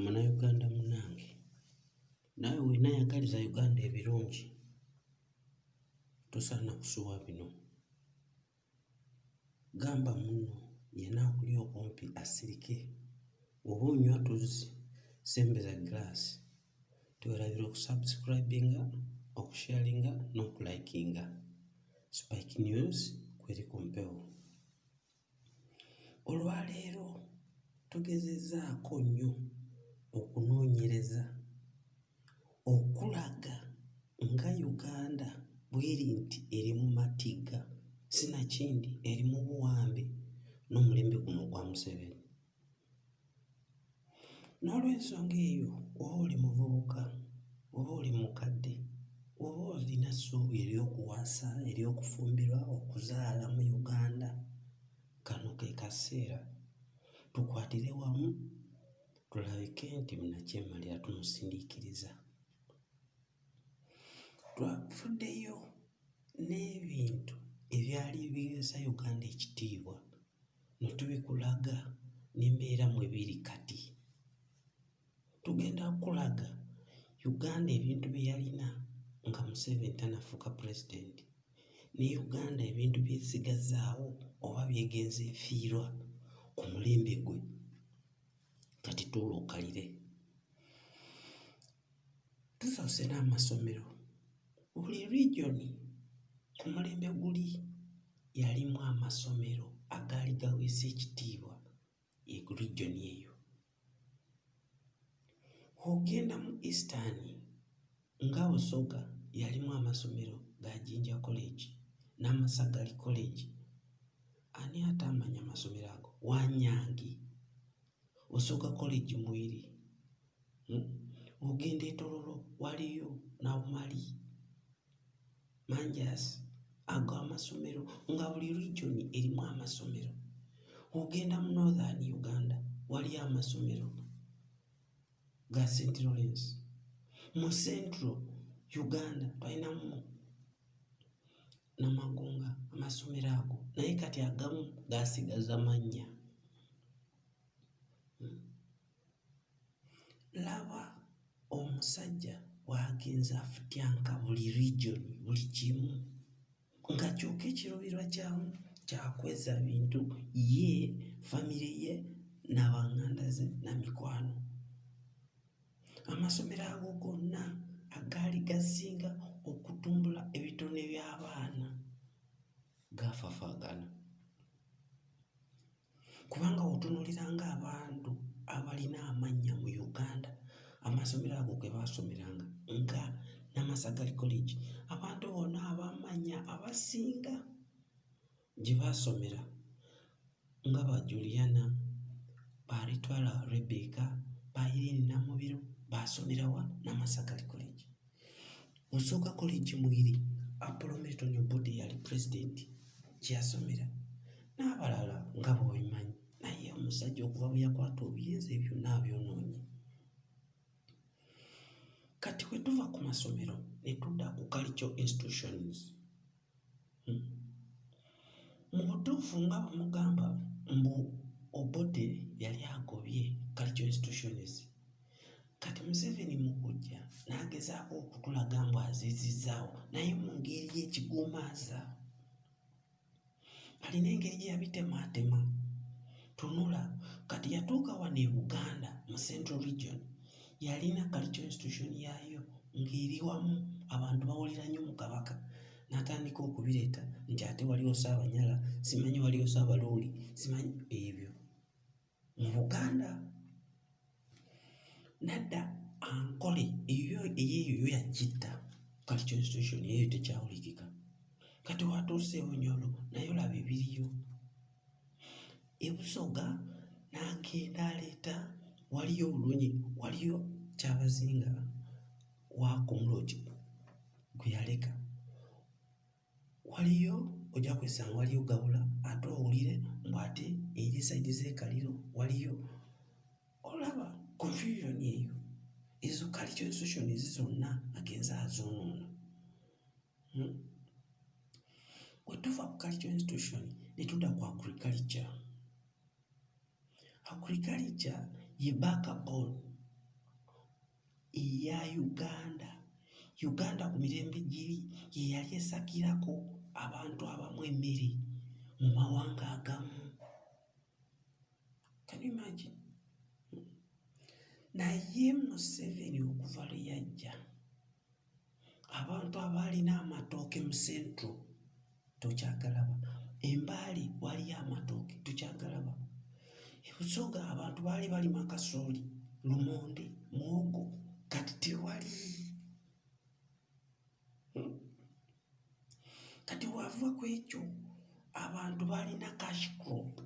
Munnayuganda munnange naawe bw'onaayagaliza Uganda ebirungi tosaana kusubwa bino. Gamba munno yenna akuli okumpi asirike oba onywa tuzzi, sembeza giraasi. Teweerabira okusubscribinga, okusharinga n'okulayikinga. Spike News kweri ku mpewo. Olwaleero tugezezzaako nnyo okunoonyereza okulaga nga Uganda bw'eri nti eri mu matigga sinakindi eri mu buwambe n'omulembe guno ogwa Museveni. N'olwensonga eyo oba oli muvubuka oba oli mukadde oba olina essuubi ery'okuwasa, ery'okufumbirwa, okuzaala mu Uganda kano ke kaseera tukwatire wamu tulabike nti munnakyemalira tumusindiikiriza. Twafuddeyo n'ebintu ebyali biweesa Uganda ekitiibwa. ne tubikulaga n'embeera mwe biri kati. Tugenda kukulaga Uganda ebintu bye yalina nga Museveni tannafuuka pulezidenti ne Uganda ebintu by'esigazzaawo oba by'egenze efiirwa ku mulembe gwe. Kati tuula okkalire. tusoose n'amasomero buli region ku mulembe guli yalimu amasomero agaali gaweesa ekitiibwa e region eyo ogenda mu eastern nga busoga yalimu amasomero ga jinja college n'amasagali college ani ate amanya amasomero ago wanyangi osooka kukola ejjumwiri, hmm? ogenda etololo waliyo nawumali manjasi ago amasomero nga buli region erimu amasomero ogenda mu northern uganda waliyo amasomero ga st lawrence mu central uganda twalinamu Namagunga amasomero ago naye kati agamu gaasigaza mannya. Hmm. Laba omusajja bw'agenze afutyanka buli region buli kimu nga kyokka ekiruubirirwa kyamu kyakwezza bintu ye famire ye n'abanganda ze na mikwano. Amasomero ago gonna agaali gasinga okutumbula ebitone by'abaana gaafafaagana. Kubanga bw'otunuuliranga abantu abalina amannya mu Uganda, amasomero ago ge baasomeranga nga Namasagali College, abantu bona ab'amannya abasinga gye baasomera nga ba Juliana, ba Ritwala Rebecca, ba Irene Namubiru baasomera wa Namasakali College. Musooka College mweri Apollo Milton Obote yali pulezidenti gye yasomera n'abalala nga bw'obimanyi naye omusajja okuva bwe yakwata obuyinza ebyo n'abyonoonye. Kati we tuva ku masomero ne tudda ku cultural institutions. Hmm. mu butuufu nga bwemugamba mbu obote yali agobye culture institutions kati museveni mukujja nagezaako okutulaga mbu azizizaawo naye mu ngeri yekigumaaza alina engeri gyeyabitemaatema tunula kati yatuuka wano e buganda mu central region yalina cultural institution yaayo ng'eri wamu abantu bawulira nnyo mu Kabaka n'atandika okubireeta nti ate waliwo Ssaabanyala simanyi waliwo Ssaabaluuli simanyi ebyo mu Buganda nadda ankole eyo eyeeyo yo yakitta cultural institution eyo tekyawulikika kati watuuse e Bunyoro naye olaba ebiriyo. E Busoga nange naleeta waliyo obulungi waliyo Kyabazinga wa Kumuloti gwe yaleka. Waliyo ojja kwesanga waliyo Gabula ate owulire mbu ate eri sayidi z'e Kaliro waliyo olaba confusion eyo. Ezo cultural institutions zonna agenze azoonoona. Hmm? Bwe tuva ku cultural institution ne tudda ku agriculture. Agriculture ye backbone eya Uganda. Uganda ku mirembe giri ye yali esakirako abantu abamu emmere mu mawanga agamu. Can you imagine? naye Museveni okuva lwe yajja Abantu abaalina amatooke mu central tokyagalaba, e Mbale waaliyo amatooke tokyagalaba, e Busoga abantu baali balima kasooli, lumonde, muwogo kati tewali. Hmm. Kati wava ku ekyo abantu baalina cash crop.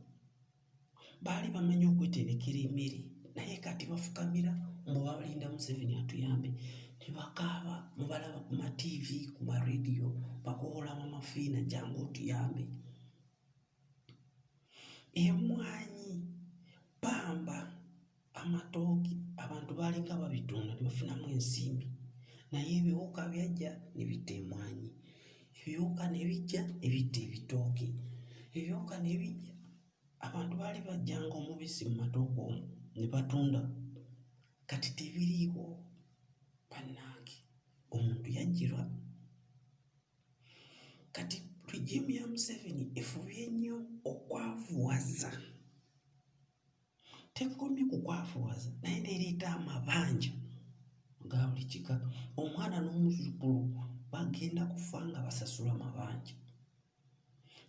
baali bamanyi okweterekera emmere naye kati bafukamira mbu balinda Museveni atuyambe ne bakaaba mubalaba ku matiivi ku marediyo bakowola bamafiina jangu otuyambe emmwanyi ppamba amatooke abantu baalinga babitunda ne bafunamu ensimbi naye ebiwuka byajja ne bitta emwanyi ebiwuka ne bijja ne bitta ebitooke ebiwuka ne bijja abantu baali bajjanga omubisi mu matooke omwo ne batunda kati tebiriiwo bannange omuntu yajjirwa kati regimu ya museveni efubye nnyo okwavuwaza Tekomye ku kwafuwaza naye n'ereeta amabanja ga buli kika. Omwana n'omuzzukulu bagenda kufa nga basasula mabanja.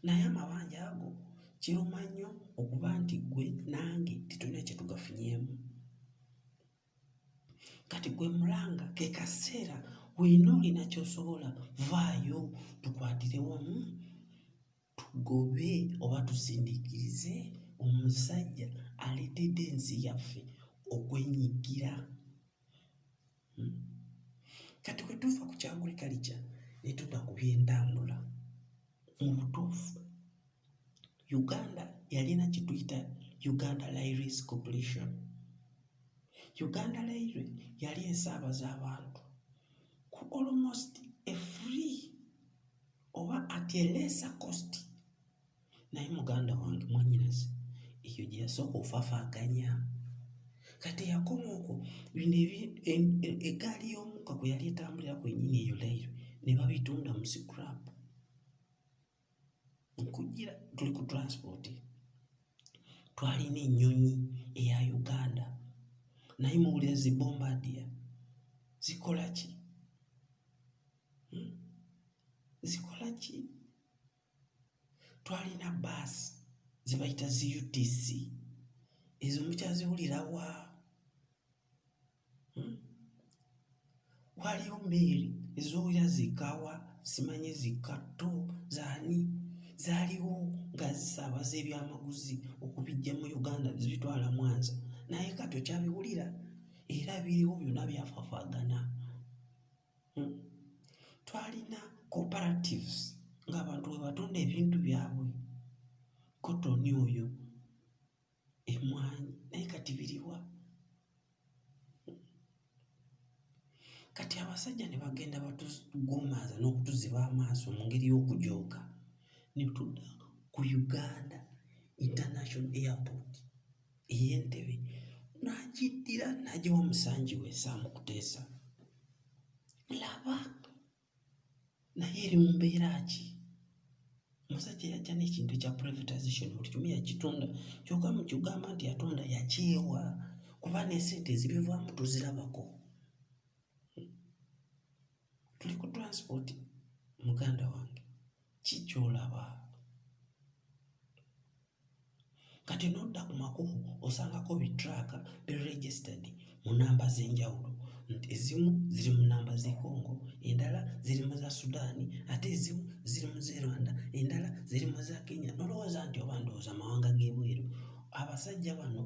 Naye amabanja ago kiruma nnyo okuba nti ggwe nange tetulina kye tugafunyemu. Kati gwe mulanga ke kaseera weena olina ky'osobola vaayo tukwatire wamu. tugobe oba tusindiikirize omusajja aleetedde ensi yaffe okwenyigira hmm? kati bwe tuva ku kyagulikalikya ne tuda ku byentambula mu butuufu uganda yalina kye tuyita uganda lairis cooperation uganda laire yali esaabaza abantu ku almost a free oba at a lesser cost naye muganda wange mwanyinaze eyo gye yasooka ofafaaganya kati yakoma okwo bino egaali y'omuka kwe yali etambulira kwenyini eyo lairo ne babitunda mu scrap nkujira tuli ku transport twalina ennyonyi eya uganda naye muwulira zibombadia zikola ki zikola ki? Twalina bbaasi ze bayita zi UTC, ezo mukyaziwulira wa? Hmm? Waliyo mmeeri ezoowulira zikka wa? Simanyi zikka tto zaani? Zaaliwo nga zisaabaza ebyamaguzi okubiggya mu Uganda ne zibitwala Mwanza, naye kati okyabiwulira? Era biriwo byonna byafafaagana. Twalina cooperatives ng'abantu mwe batunda ebintu byabwe, kkotoni oyo, emmwanyi naye kati biri wa? Kati abasajja ne bagenda batugumbaaza n'okutuziba amaaso mu ngeri y'okujooga ne tudda ku Uganda International Airport. ey'entebe n'agiddira n'agiwa musangi we Ssaamu Kuteesa. Laba naye eri mu mbeera ki? Omusajja yajja n'ekintu ekya privatization buli kimu yakitunda kyokka mu kigamba nti yatunda yakyewa kuba n'esente ezibivaamu tuzirabako. Tuli ku transport muganda wange ki ky'olaba? Kati n'odda ku makubo osangako bittraaka bi registered mu nnamba z'enjawulo. Ezimu ziri mu nnamba z'e Congo, endala ziri mu za Sudan, ate ezimu ziri mu z'e Rwanda, endala ziri mu za Kenya n'olowooza nti oba ndowooza mawanga g'ebweru. Abasajja bano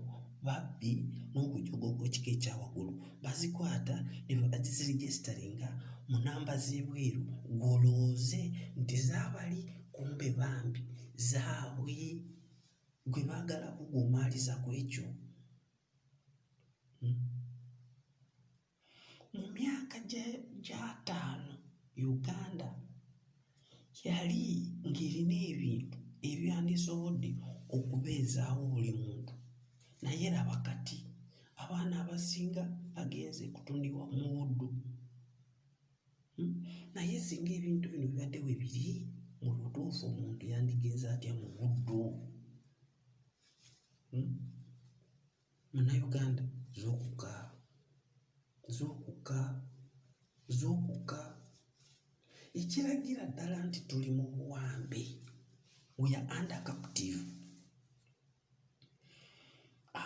babbi n'okujoga okw'ekika ekya waggulu. Bazikwata ne baziregisteringa mu nnamba z'ebweru gw'olowooze nti zaabali. kumbe bambi zaabwe gwe baagala kugumaaliza ku ekyo hmm? mu myaka gyataano uganda yali ng'erina ebintu ebyandisobodde okubeezaawo buli muntu naye laba kati abaana abasinga bagenze kutundibwa mu buddu Hmm? naye singa ebintu bino bibadde we biri mu butuufu omuntu yandigenza atya mu buddu hmm? munauganda zokuka zokuka zokuka ekiragira ddala nti tuli mu buwambe we are under captive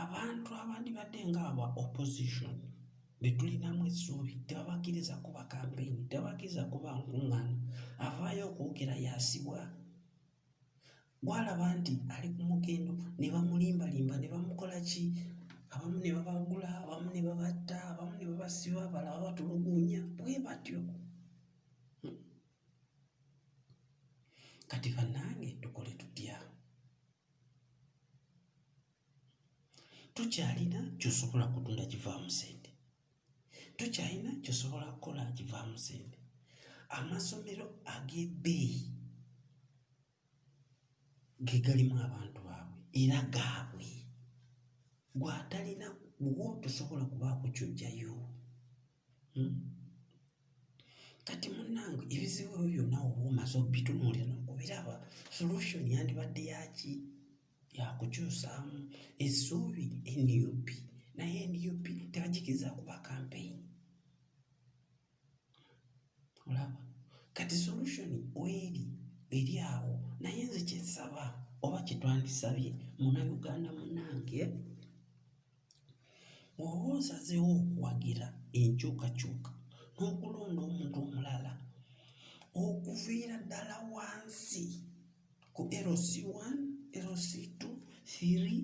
Abantu abandibadde nga aba opposition be tulinamu essuubi tebabakkiriza kukuba kampeyini, tebabakkiriza kukuba nkuŋŋaana, avaayo okwogera y'asibwa. Gw'alaba nti ali ku mugendo ne bamulimbalimba ne bamukola ki, abamu ne babagula, abamu ne babatta, abamu ne babasiba, abalala babatulugunya bwe batyo. Kati bannange tukole tutya? tukyalina kyosobola kutunda kivaamu sente tukyalina kyosobola kukola kivaamu sente amasomero ag'ebbeeyi ge galimu abantu baabwe era gaabwe gwatalina wo tosobola kubaako kyojjayo Hmm? Kati munnange ebizibu ebyo byonna oba omaze obitunuulira n'okubiraba, solution yandibadde yaki? Yakukyusaamu essuubi nup, naye nup tebagikiriza kuba kampeyini. Olaba? Kati solution weeri eri awo, naye nze kyensaba oba kyetwandisabye munnayuganda munnange Bw'oba osazeewo okuwagira enkyukakyuka n'okulonda omuntu omulala, okuviira ddala wansi ku LC one, LC two, three,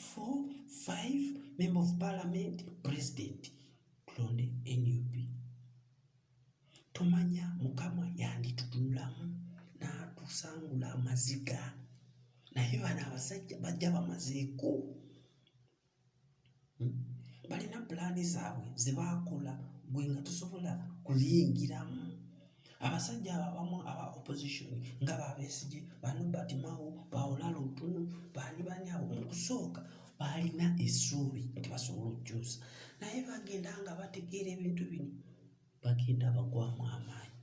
four, five, member of parliament, president, tulonde nup. Tumanya Mukama yanditutunulamu n'atusangula amaziga. naye bano abasajja bajja bamazeeko hmm? balina pulaani zaabwe ze baakola gwe nga tosobola kuziyingiramu abasajja abo abamu aba opposition nga babesigye banobert mao baolala otunu baali bani abo mukusooka baalina essuubi nti basobola okukyusa naye bagenda nga bategeera ebintu bino bagenda bagwamu amaanyi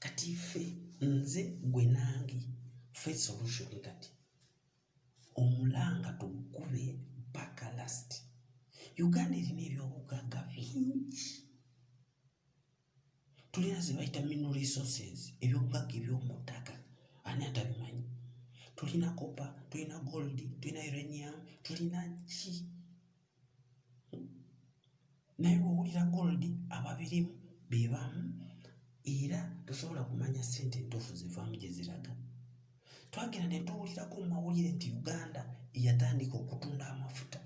kati ffe nze gwe nange fe solution kati omulanga tugube paka last uganda erina ebyobugagga bingi tulina ze bayita mineral resources ebyobugagga ebyomu ttaka ani atabimanyi tulina copper tulina gold tulina uranium tulina ki naye owulira gold ababirimu be bamu era tosobola kumanya ssente entuufu zivaamu gye ziraga twagenda ne tuwulirako mu mawulire nti uganda yatandika okutunda amafuta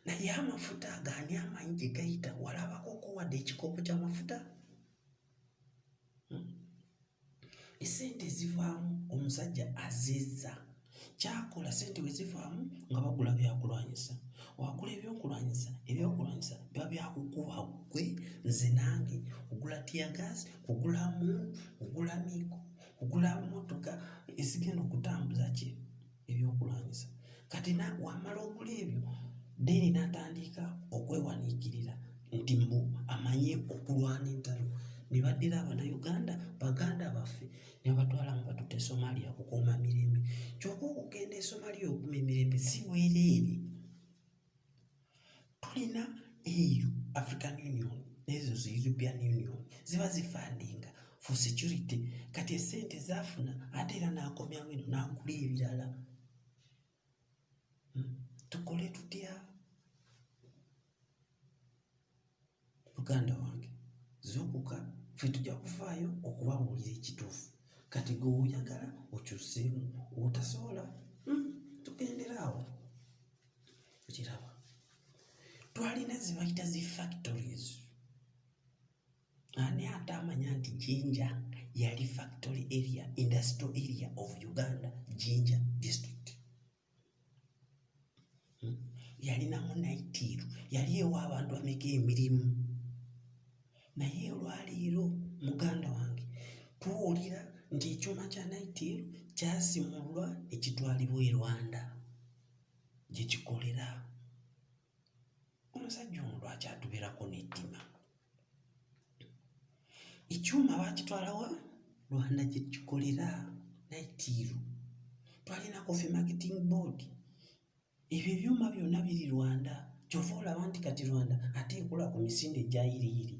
naye amafuta agaani amanyi gye gayita walabakoko wadde ekikopo ky'amafuta esente ezivaamu omusajja azizza kyakola sente wezivaamu nga bagula byakulwanyisa wakula ebyokulwanyisa ebyokulwanyisa biba byakukuba gwe nze nange kugula tiyagas kugulamu kugula migo kugula motoka ezigenda okutambuza ki ebyokulwanyisa kati na wamala okula ebyo deni natandika okwewaniikirira nti mbu amanyi okulwana entalo ne baddira abanauganda baganda baffe ne babatwala nga batuta e somalia kukuuma mirembe kyokka okugenda e somalia okuuma emirembe si bwereere tulina EU, African Union n'ezo zi European Union ziba zifandinga for security kati esente zafuna ate era n'akomyawo eno n'agula ebirala hmm? tukole tutya muganda wange zuukuka ffe tujja kufaayo okubabuulira ekituufu kati gwe oyagala okyuseemu otasobola hmm, tugendera awo okiraba twalina zibayita zi factories ani ate amanya nti jinja yali factory area industrial area of uganda jinja district hmm? yalinamu naitiiru yali ewa abantu ameka emirimu naye olwaleero muganda wange tuwulira nti ekyuma kya naitiiru kyasimulwa ekitwalibwa e rwanda gye kikolera omusajja ono lwaki atubeerako n'ettima ekyuma bakitwalawa rwanda gye kikolera naitiiru twalina kofi marketing board ebyo ebyuma byonna biri rwanda kyova olaba nti kati rwanda ate ekola ku misinde egyayiriyiri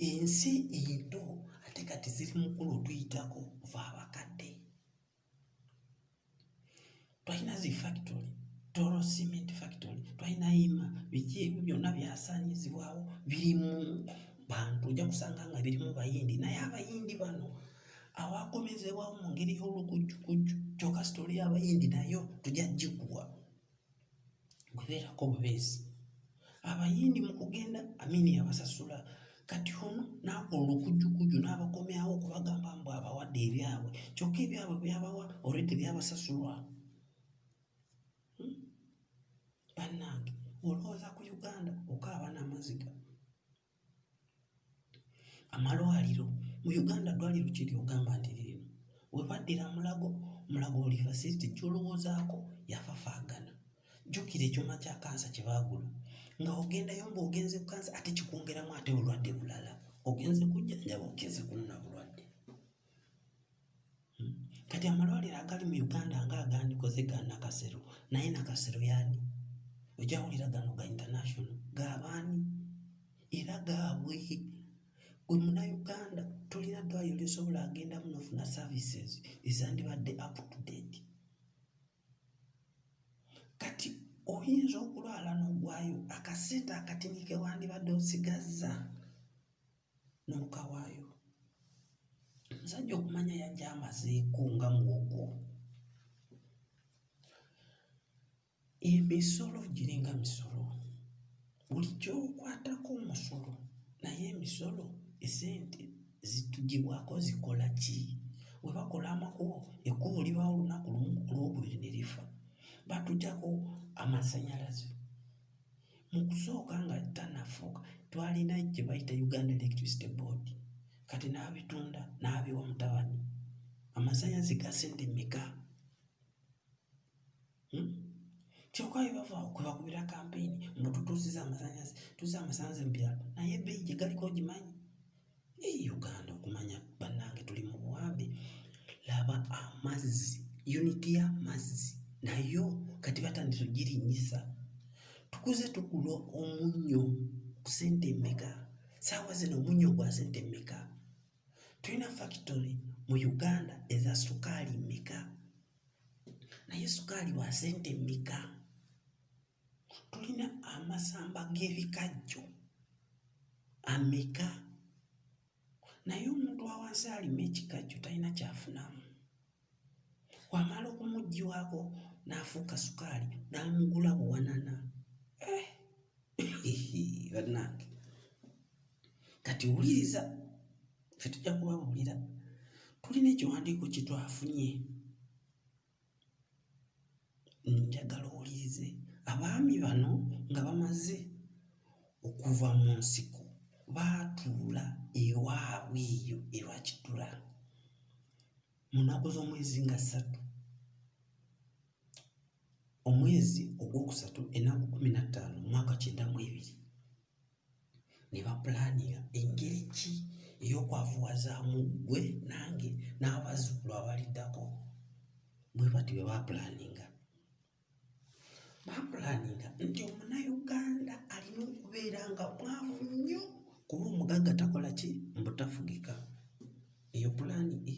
ensi ento ate kati ziri mukulu otuyitako ova abakadde twalina zi factory toro cement factory twalina yima biki ebyo byonna byasaanyizibwawo biri mu bantu ojja kusanga nga biri mu bayindi naye abayindi bano awakomezebwawo mu ngeri y'olukujjukujju kyoka sitole y'abayindi nayo tujja gikuwa gwe beerako bubeezi abayindi mu kugenda amini abasasula kati ono n'akola olukujjukujju n'abakomyawo okubagamba mbu abawadde ebyabwe kyokka ebyabwe byabawa olwedde byabasasulwa hmm? bannange olowooza ku uganda okaaba n'amaziga Amalwaliro mu Uganda ddwaliro ki ly'ogamba nti lino we baddira Mulago? Mulago buli facility gy'olowoozaako yafafaagana. Jjukira ekyuma kya kansa kye baagula nga ogendayo ng'ogenze ku kansa ate kikwongeramu ate bulwadde bulala. Ogenze kujjanjaba ogenze kunona bulwadde. Kati amalwaliro agali mu Uganda nga agandikoze ga Nakasero naye Nakasero yani ojawulira gano ga international gabaani era gaabwe gwe munauganda tolina ddwaliro lyosobola agendamu nofuna services ezandibadde up to date kati oyinza okulwala n'ogwayo akasente akatini kewandibadde osigazza n'omuka waayo. Omusajja okumanya yajja amazeeko nga muwogo. Emisolo giringa misolo, buli kyokwatako omusolo naye emisolo esente zitugibwako zikola ki? Bwe bakola amakubo, ekkubo libawo olunaku lumu ku Lwokubiri ne lifa. Batuggyako amasannyalaze. mu kusooka nga tanafuuka twalina gye bayita Uganda Electricity Board kati n'abitunda n'abiwa mutabani amasannyalaze gasente meka hmm? kyoka bebava kwebakubira kampeyini mbu tutuusiza amasannyalaze tuusiza amasannyalaze mu byalo naye ebbeeyi gye galiko ogimanyi Eyi Uganda okumanya bannange tuli mu buwambe. Laba amazzi, yuniti y'amazzi nayo kati batandise ogirinyisa. Tukuze tugula omunnyo ku sente mmeka? Saawa zino omunnyo gwa sente mmeka? Tulina fakitole mu Uganda eza sukaali mmeka? Naye sukaali wa sente mmeka? Tulina amasamba g'ebikajjo ameka? Naye omuntu awansi alima ekikajjo talina kyafunamu. Wamala okumuggyiwako n'afuuka sukaali n'amugula buwanana. Eh! Bannange, kati wuliriza, ffe tujja kubabuulira. Tulina ekiwandiiko kye twafunye. njagala owulirize abaami bano nga bamaze okuva mu nsiko baatuula ewaabwe eyo ebakiddula mu nnaku z'omwezi nga ssatu omwezi ogwokusatu ennaku kkumi na ttaano omwaka kyenda mu ebiri ne bapulaaninga engeri ki ey'okwavuwazaamu ggwe nange n'abazzukulu abaliddako. Bwe batyo bwe baapulaaninga. Baapulaaninga nti Omunnayuganda alina okubeera nga mwavu nnyo kuba omugagga takola ki? Mbu tafugika. Eyo pulaani A.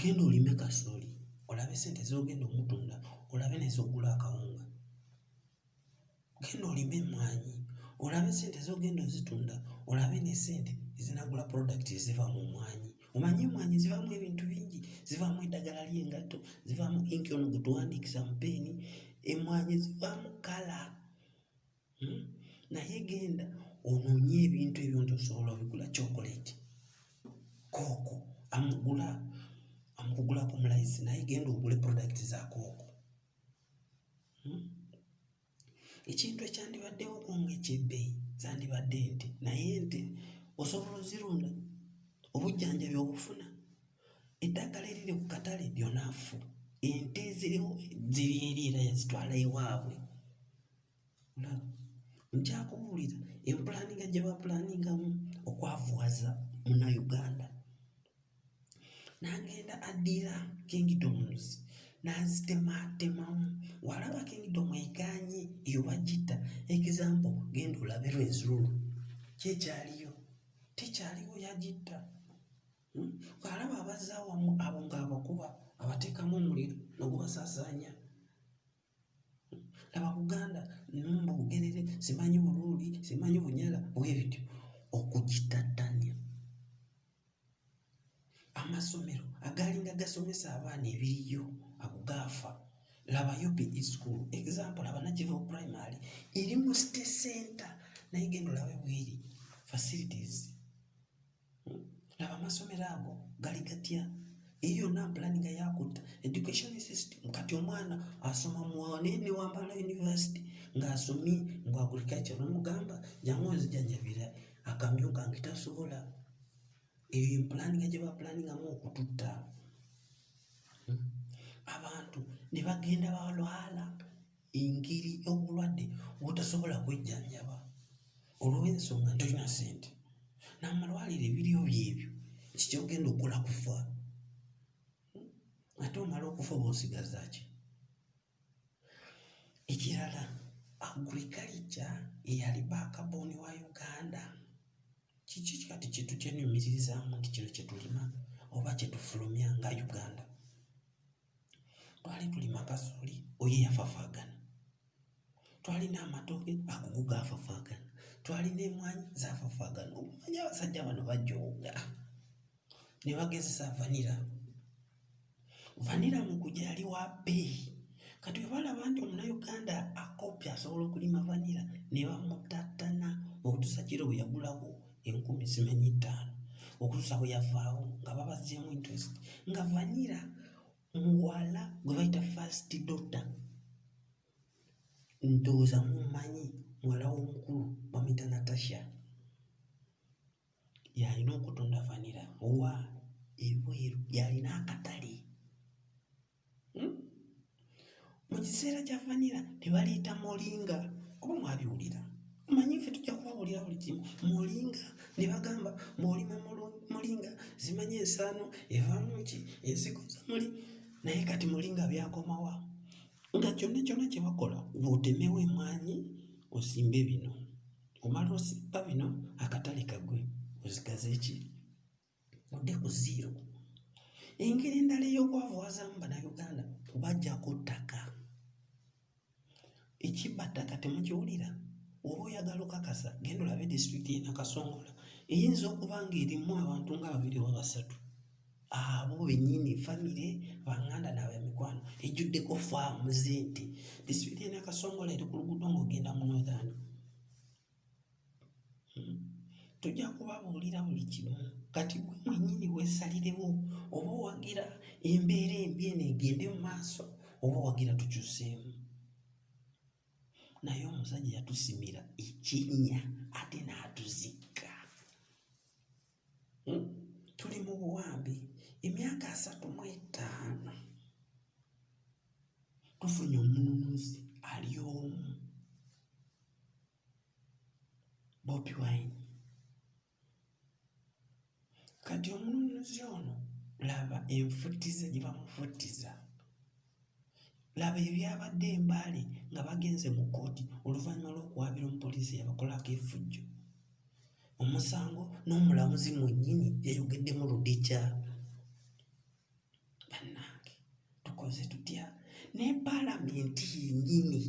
Genda olime kasooli olabe sente z'ogenda omutunda olabe n'ez'oggula akawunga. Genda olime emmwanyi olabe sente z'ogenda ozitunda olabe ne sente ezinaagula product eziva mu mmwanyi. Omanyi emmwanyi zivaamu ebintu bingi, zivaamu eddagala ly'engatto, zivaamu ink ono gwe tuwandiikisa mu ppeeni, emmwanyi zivaamu kkala. hmm? naye genda onoonye ebintu ebyo nti osobola obigula chocolate kooko amugula amukugulako mulayisi naye genda ogule product za kooko hmm? ekintu ekyandibaddewo kunga ekyebbeyi zandibadde nti naye nti osobola ozirunda obujjanjabi obufuna eddagala eriri ku katale lyonaafu ente ziriwo ziri eri era yazitwala ewaabwe Nkyakubuulira empulaaninga gye bapulaaningamu okwavuwaza Munnayuganda n'agenda addira Kingdoms n'azitemaatemamu. Bw'alaba Kingdom egaanye eyo bagitta example, genda olabe Rwenzururu ki ekyaliyo? Tekyaliwo, yagitta. Hmm? Bw'alaba abazza awamu abo ng'abakuba abateekamu omuliro ne gubasaasaanya. laba buganda numba bugerere simanyi buluuli simanyi bunyala bwebityo okugitattanya amasomero agalinga gasomesa abaana ebiriyo ago gaafa laba upe school example laba nakivo primary eri mu city center naye genda olabe bweri facilities Laba amasomero ago gali gatya? Eyo yonna mpulaninga yakutta education system. Kati omwana asoma munaye ne Wambala University ng'asomye mu agriculture nomugamba jangu onzijanjabira akamyu kange tasobola. Eyo yempulaninga gye bapulaningamu okututta hmm? abantu ne bagenda balwala. engeri obulwadde bwotasobola kwejjanjaba olw'ensonga nti tolina ssente n'amalwaliro ebiriyo byebyo kiki kyogenda okukola kufa ate omala okufa oba osigaza ki ekirala agriculture eyali baakabooni wa uganda kiki kati kintu kyenyumiririzaamu nti kino kyetulima oba kyetufulumya nga uganda twali tulima kasooli oyo yafafaagana twalina amatooke agogo gaafafaagana twalina emwanyi zaafafaagana okumanya abasajja bano bajooga ne bagezesa vanira vanira mukuja yali wa bbeeyi kati bwe balaba nti omunayuganda akopi asobola okulima vanira ne bamutattana okutuusa kiro bwe yagulawo enkumi zimenye ettaano okutuusa bwe yavaawo nga babazzeemu interest nga vanira muwala gwe bayita first dota ndowooza mumanyi muwala w'omukulu bamuyita natasha yalina okutunda vanira owa ebweru yalina akatale hmm? mu kiseera kya vanira tebaliyita molinga kuba mwabiwulira manyi ffe tujja kubawulira buli kimu molinga ne bagamba bwolima molinga zimanya ensaano evaamu ki ensigo zamuli naye kati molinga byakomawa nga kyonna kyonna kyebakola wotemewo emwanyi osimbe bino omala osimba bino akatale kagwe ozigaze ki odde ku ziiro. Engeri endala ey'okwavuwazaamu Bannayuganda kubaggyako ttaka. Ekibba ttaka temukiwulira? Oba oyagala okakasa genda olabe disitulikiti y'e Nakasongola eyinza okuba ng'erimu abantu nga babiri oba basatu abo bennyini famire banganda n'abemikwano ejjuddeko faamu z'ente disitulikiti y'e Nakasongola eri ku luguudo ng'ogenda mu Northern Tujja kubabuulira buli kimu kati gwe mwennyini weesalirewo oba owagira embeera embi eno egende mu maaso oba owagira tukyuseemu. Naye omusajja yatusimira ekinnya ate n'atuzikka. Hmm? Tuli mu buwambi emyaka asatu mu etaano tufunye omununuzi ali omu Bobi Wine. Kati omununuzi ono laba enfutiza gye bamufutiza. Laba ebyabadde e Mbale nga bagenze mu kkooti oluvannyuma lw'okuwaabira omupoliisi eyabakolako efujjo omusango n'omulamuzi mwennyini yayogeddemu ludica. Bannange tukoze tutya? Ne paalamenti yennyini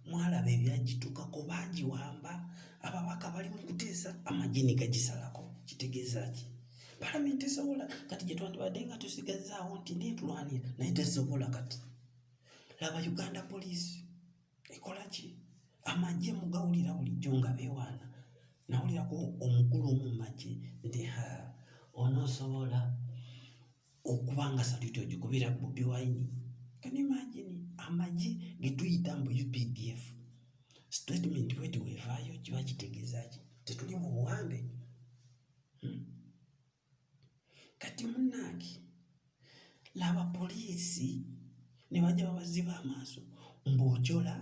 mwalaba ebyagituukako baagiwamba, ababaka bali mu kuteesa amagye ne gagisalako. Kitegeeza ki? palamenti esobola kati gyetwandibadde nga tusigazaawo nti netulwanira naye tesobola kati laba uganda poliisi ekola ki amagye mugawulira bulijjo nga bewaana nawulirako omukulu omu mumagye nti ha onosobola okuba nga saluti ogikubira bobi wine can imagine amagye getuyita mbu updf statement wetwevaayo kiba kitegeeza ki tetuli mu buwambe kati munange laba poliisi ne bajja babaziba amaaso ng'ojola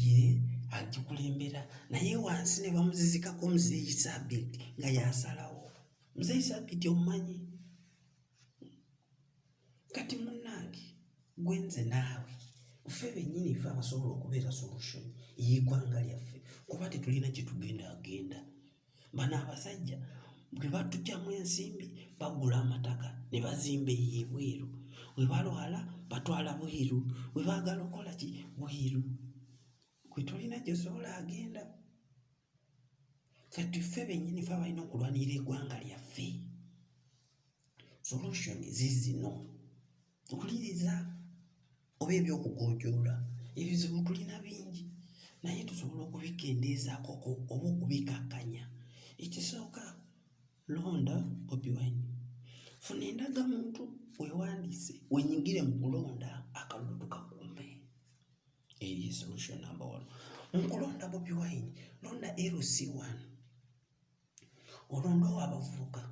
ye agikulembera naye wansi ne bamuzizikako muzeeyi sabiiti nga yasalawo muzeeyi sabiiti omumanyi kati munange gwenze naawe ffe bennyini fe abasobola okubeera solution ey'eggwanga lyaffe kuba tetulina kyetugenda agenda Bano abasajja bwe batugyamu ensimbi bagula amataka ne bazimba eyo ebweru, bwe balwala batwala bweru, bwe baagala okukola ki bweru. Gwe tolina gy'osobola agenda. Kati ffe bennyini fe abalina okulwanirira eggwanga lyaffe solution zizino. okuliriza oba eby'okugojoola ebizibu tulina bingi naye tusobola okubikendeezaako oba okubikakkanya ekisooka londa bobi wine funa endaga muntu wewandiise wenyigire mu kulonda akalulu tukakuume eyo solution number one mu kulonda bobi wine londa lc one olondewo abavubuka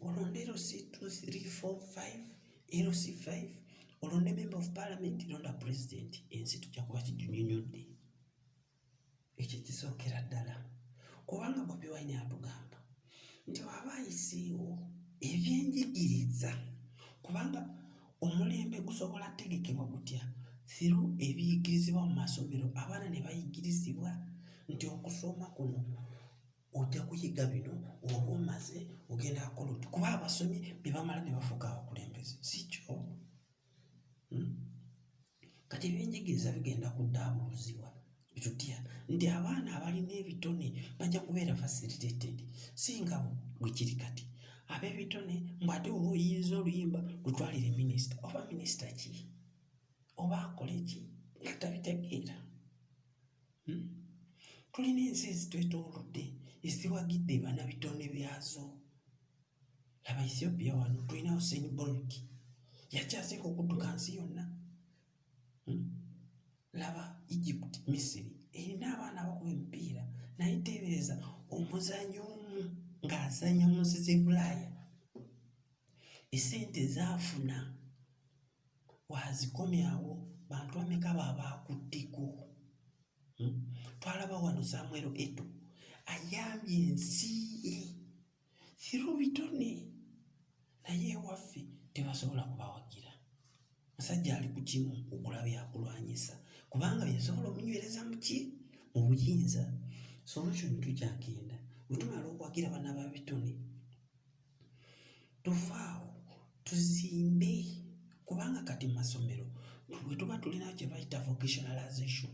olonde lc 2345 lc 5 olonde member of parliament londa president ensi tujja kuba kijunyonyodde ekyo kisookera ddala kubanga bobi wine atugamba nti waba ayisiiwo ebyenjigiriza kubanga Omulembe gusobola kutegekebwa gutya? Thiru ebiyigirizibwa mu masomero abaana ne bayigirizibwa nti okusoma kuno ojja kuyiga bino oba omaze ogenda akola oti kuba abasomye bebamala ne bafuuka abakulembeze si kyo hmm? kati ebyenjigiriza bigenda kuddaabuluzibwa bitutya nti abaana abalina ebitone bajja kubeera facilitated singa bwe kiri kati ab'ebitone mbu ate oba oyiyiza oluyimba lutwalire minisita oba minisita ki oba akole ki nga tabitegeera hmm? tulina ensi ezitwetoolodde eziwagidde banabitone byazo Laba Ethiopia wano tulina Usain Bolt yakyasinga okudduka nsi yonna. Hmm? Laba Egypt, Misiri erina abaana abakuba emipiira naye teebereza omuzanyi omu ng'azanya mu nsi z'e Bulaaya esente zaafuna wazikomyawo bantu bameka babaakutteko hmm? twalaba wano Samuel Eto ayambye ensi ye through bitone naye ewaffe tebasobola kubawagira musajja ali ku kimu okula byakulwanyisa kubanga byesobola omunywereza muki mu buyinza so olwo kino tukyagenda wetumala okuwagira bana ba bitone tuvaawo tuzimbe kubanga kati mu masomero bwe tuba tulina kye bayita vocationalization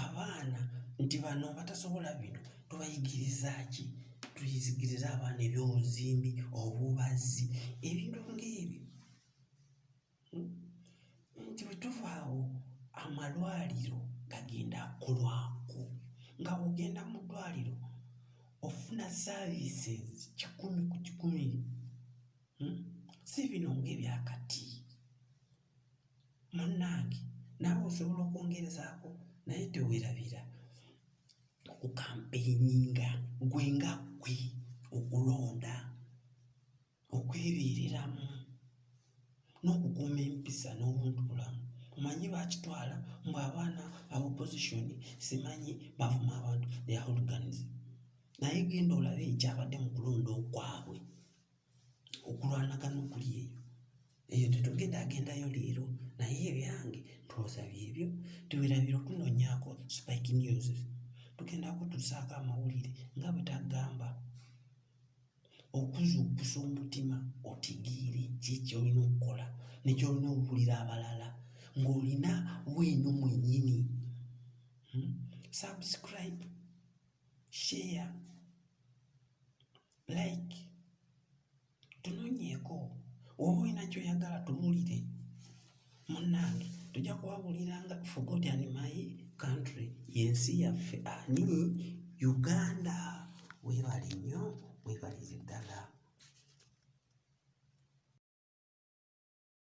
Abaana nti bano abatasobola bino tubayigiriza ki? Tuyigiriza abaana ebyobuzimbi, obubazzi ebintu ng'ebyo hmm? nti bwe tuva awo amalwaliro gagenda akolwako nga ogenda mu ddwaliro ofuna services kikumi ku kikumi hmm? si bino ng'ebyakati. munnange naawe osobola okwongerezaako naye teweerabira okukampeyininga gwe nga gwe okulonda okwebeereramu n'okukuuma empisa n'obuntu bulamu omanyi bakitwala mbu abaana aba opposition simanyi bavuma abantu their hooliganism naye genda olabe ekyabadde mu kulonda okwabwe. okulwanagana okuli eyo eyo tetugenda agendayo leero naye ebyange twoza byebyo tuwerabira okunonyaako spike news tugenda kutusaako amawulire nga bwetagamba okuzuukusa omutima otigiire kyekyolina okukola nekyolina okuwulira abalala ng'olina weeno mwenyini hmm? subscribe share like tunonyeeko oba olina kyoyagala tuwulire munnange tujja kuwabuliranga forgot and my country yensi yaffe ani uganda webale nnyo webalire ddala